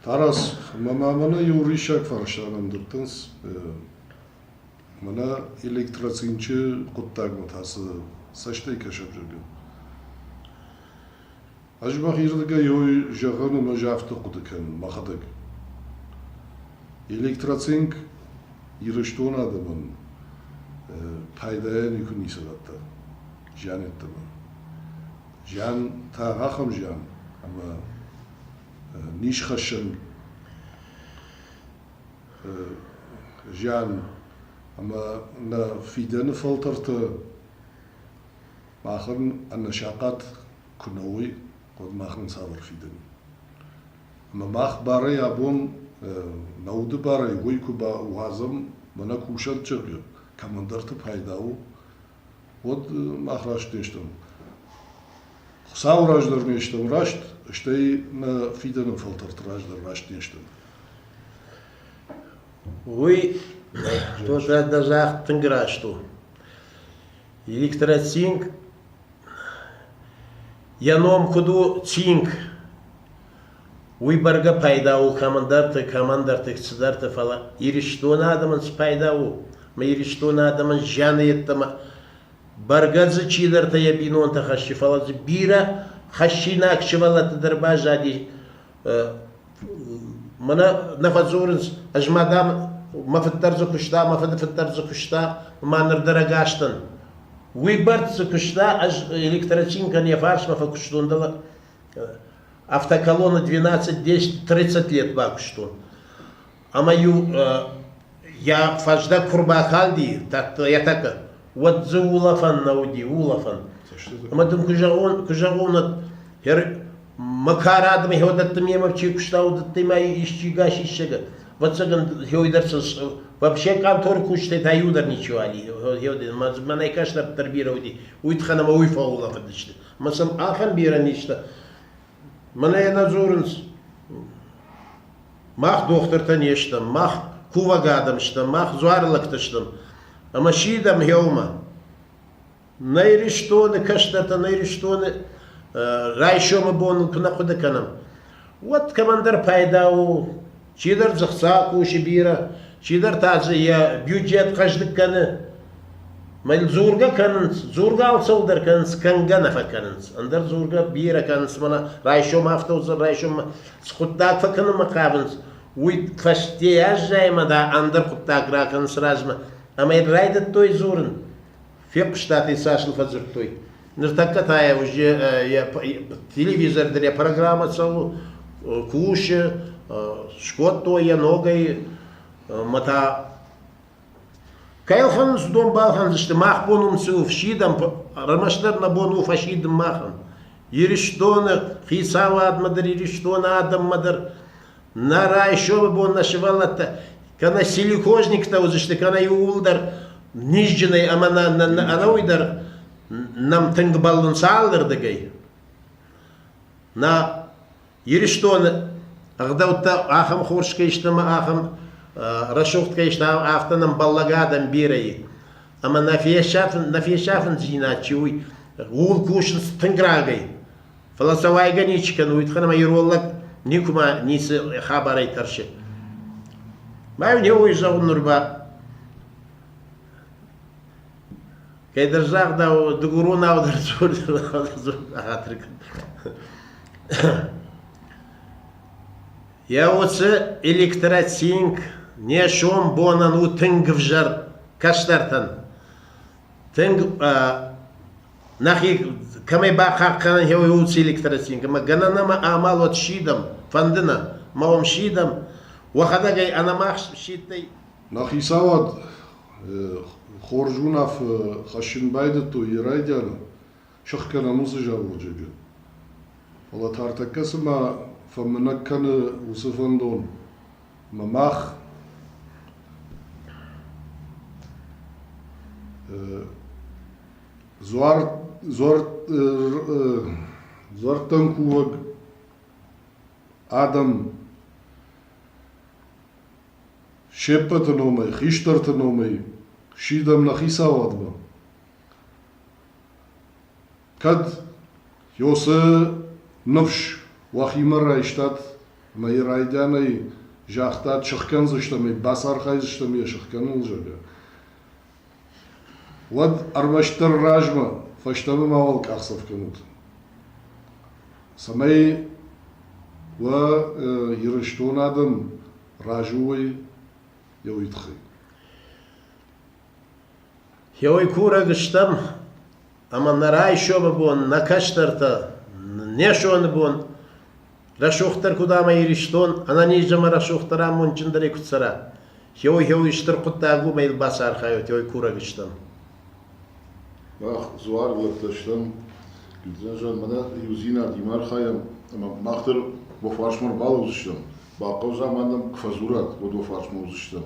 Тарас, мӕмӕ мӕнӕ иу риссаг фӕрсӕн ӕндыдтынц. Мӕнӕ электроцинчы хъуыддагмӕ та цы цӕстӕй кӕсӕм зӕгъӕм? Ӕз мӕхирдыгӕй ой зӕгъын ӕмӕ ӕз афтӕ хъуыды кӕнын мӕхӕдӕг. Электроцинк Ирыстоны адӕмӕн пайдайӕ никуы ницы радта зиан йеддӕмӕ. Зиан та ахӕм зиан, ӕмӕ нисхӕссӕн зиан ӕмӕ нӕ фидӕны фӕлтӕртӕ махӕн ӕнӕсахъат куы нӕ уой, уӕд мах нын цавӕр фидын? Ӕмӕ мах барӕй абон нӕ уды барӕй уый куы бауадзӕм, мӕнӕ кусӕн чъыгы кӕмӕндӕрты пайда у, уӕд мах раст не стӕм. Хуыцауы раздӕр не стӕм раст, стӕй нӕ фидӕны фӕлтӕрты раздӕр раст не стӕм. Уый то, что это даже тынг раст у. Электротинг Йӕ ном куыд у Цинк, уый бӕргӕ пайда у кӕмӕндӕрты, кӕмӕндӕрты цыдӕрты, фӕлӕ Ирыстоны адӕмӕн цы пайда у? Ӕмӕ Ирыстоны адӕмӕн зианы йеддӕмӕ бӕргӕ дзы чидӕртӕ йӕ бинонтӕ хӕссы, фӕлӕ дзы бирӕ хӕссинаг сывӕллӕтты дӕр баззади. Мӕнӕ нӕ фӕдзурынц, ӕз ма дам мӕ фыддӕр дзы куыста, мӕ фыды фыддӕр дзы куыста, ма ныр дӕр ӕгас дӕн. Уый бӕрц дзы куыста, ӕз электрочинкӕн йӕ фарсмӕ фӕкуыстон, дӕлӕ автоколонна 12-10-30 лет бакуыстон. ӕма-иу йа фӕздӕг ку рбакалди етӕка, уӕд дзы улӕфӕн нӕ уди, улӕфӕн. Ӕма дын ку зӕгъон, ку зӕгъон, хер мӕ ка радӕмӕ хеуӕдӕттӕ мемӕ чи кустаудӕттӕй ма исчи гас иссӕгӕ, вӕццӕгӕн хеуйдӕрсӕн вообще къантори кустӕй та иу дӕр ничего али хеуӕдӕ, ма мӕнӕй кӕстӕрддӕр берӕ уди, уой тхӕн ӕма уой фӕулӕфӕдысты. Ма сӕм ахӕм берӕ низтӕ Мӕнӕ йӕ нӕ дзурынц. Мах дохтыртӕ не стӕм, мах кувӕг адӕм стӕм, мах дзуары лӕгтӕ стӕм. Ӕмӕ сидӕм гъеумӕ. Нӕ Ирыстоны кӕстӕртӕ, нӕ Ирыстоны райсомы бон куы нӕ хъуыды кӕнӕм, уӕд кӕмӕндӕр пайда у. Чидӕр дзы хца кусы бирӕ, чидӕр та дзы йӕ бюджет хъӕздыг кӕны. Мӕн дзургӕ кӕнынц, дзургӕ цӕуылдӕр кӕнынц, кӕнгӕ нӕ фӕкӕнынц. Ӕндӕр дзургӕ бирӕ кӕнынц мӕнӕ райсом автовзор, райсом хъуыддаг фӕкӕнынмӕ хъавынц. Уый фӕстейӕ аззайӕмӕ да ӕндӕр хъуыддаг ракӕнынц размӕ. Ӕмӕ йын райдыдтой дзурын. Фехъуыста, хи цас ыл фӕдзырдтой. Ныртӕккӕ та йӕ уызджы йӕ телевизор дӕр йӕ программӕ цӕуы, кусы, скодтой йӕ ногӕй мӕ та кӕй ӕлхӕндзыстӕм, балхӕндзысты, мах бон уым цы у фсидӕм, ӕрмӕстдӕр нӕ бон у фӕсидын махӕн. Ирыстоны хицауадмӕ дӕр, Ирыстоны адӕммӕ дӕр Нӕ райсомы бон нӕ сывӕллӕттӕ кӕнӕ силикозниктӕ уыдзысты, кӕнӕ иууыл дӕр низджынӕй ӕмӕ нӕ, нӕ, нӕ ӕнӕуый дӕр нӕм тынг бӕллынц алырдыгӕй. Нӕ Ирыстоны ӕгъдӕуттӕ ахӕм хорз кӕй сты ӕмӕ ахӕм рӕсугъд кӕй сты, афтӕ нӕм бӕллӕг адӕм бирӕ и. Ӕмӕ нӕ фесафын, нӕ фесафындзинад чи у, ууыл кусынц тынг рагӕй. Фӕлӕ сӕ уайгӕ ничи кӕны, уитхӕн ӕмӕ ирон лӕг никуыма ницы хабарӕй тӕрсы. Мӕ не уый зӕгъын ныр ба. Кӕдӕр загъдау, дыгуронау дӕр дзор Еуцы электротинг не сом бонӕн у тынг ӕвзӕр кӕстӕртӕн. Тынг Нӕхи кӕмӕй бахъахъхъӕнӕн еуей уци электросинк, ӕма гӕнӕн нӕмӕ амал уӕд сидӕм, фӕндынӕ ма уӕм сидӕм, уӕхӕдӕг ӕй ӕнӕмах сидтӕй. Нӕ хицауад хорз уынаффӕ хӕссын байдыдтой йӕ райдианы сыхгӕнӕн уыцы заводжыджы. Фӕлӕ тартӕккӕ цыма фӕмынӕг кӕны уыцы фӕндон ӕмӕ мах Дзуардтӕнкувӕг адӕм се ппӕты номӕй, хистӕрты номӕй сидӕм нӕ хицауадмӕ. Кӕд Йосы ныфс уӕхимӕ райстат ӕмӕ йӕ райдианӕй загътат, сыхкӕндзыстӕм ӕй, бацархайдзыстӕм йӕ сыхкӕныныл, зӕгъгӕ, Уӕд ӕрмӕстдӕр размӕ, фӕстӕмӕ мауал къахдзӕф кӕнут, цӕмӕй уӕ Ирыстон адӕм разы уой еуей туххӕй. Еуей курӕг стӕм ӕма нӕ райсоми бон, нӕ кӕстӕртӕ, не сони бон рӕсугъддӕр кудӕма Иристон, ӕнӕ низӕмӕ рӕсугъддӕр амондджиндӕри куд цӕра, еуй-еуй стур хъуддаг уомӕй бацархайуд, еуй курӕг стан. Мах дзуаргълӕгтӕ стӕм, гидзӕнзӕн мӕнӕ еудзийнад имархайӕн, ӕма мах дӕр уо фарсмӕ рбалӕудзыстӕм. Бахъӕудзӕ ма нӕм куы фӕдзурат, уӕд уо фарсмӕ уыдзыстӕм.